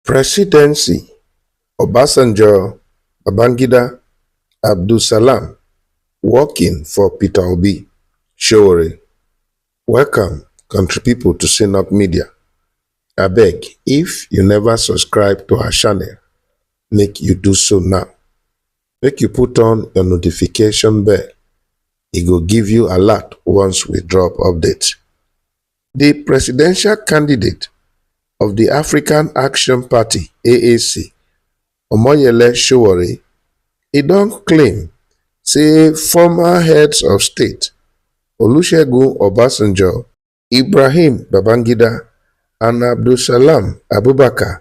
Presidency, Obasanjo, Babangida, Abdulsalam working for Peter Obi, Sowore. Welcome country people to Synod Media. Abeg, if you never subscribe to our channel, make you do so now. Make you put on your notification bell. E go give you alert once we drop update. di presidential candidate of di african action party (aac) omoyele sowore e don claim say former heads of state olusegun obasanjo ibrahim babangida and abdulsalam abubakar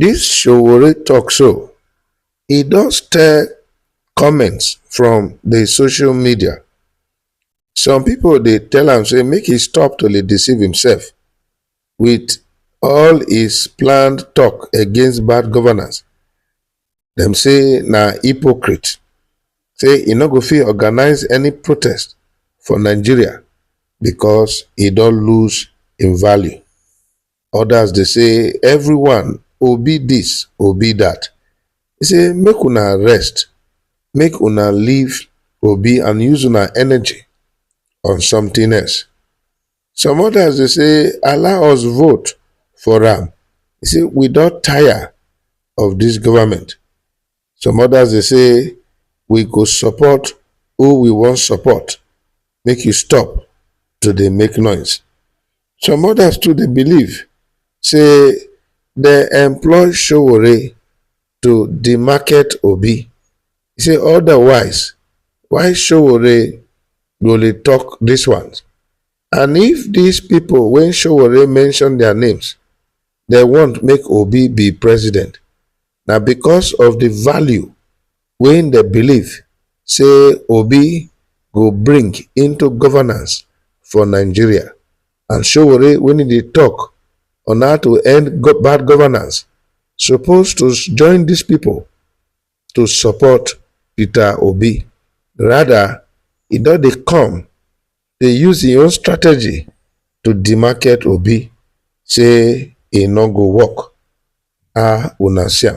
Dis Sowore tok so, e don stir comments from di social media. Some pipo dey tell am say make e stop to dey deceive imsef wit all his planned tok against bad governance, dem say na hypocrite, say e no go fit organise any protest for Nigeria becos e don lose im value. Others dey say everyone obi this obi that. He say make una rest, make una leave obi and use una energy on something else. Some others dey say allow us vote for am, he say we don tire of this government. Some others dey say we go support who we wan support make you stop to dey make noise. Some others too dey believe say dem employ Sowore to demarket Obi say otherwise why Sowore go dey talk this ones and if these people wey Sowore mention their names dem want make Obi be president na because of the value wey dey believe say Obi go bring into governance for Nigeria and Sowore when e dey talk on how to end bad governance suppose to join these people to support Peter Obi. Rather, e don dey come dey use im own strategy to demarket obi say e no go work ah una see am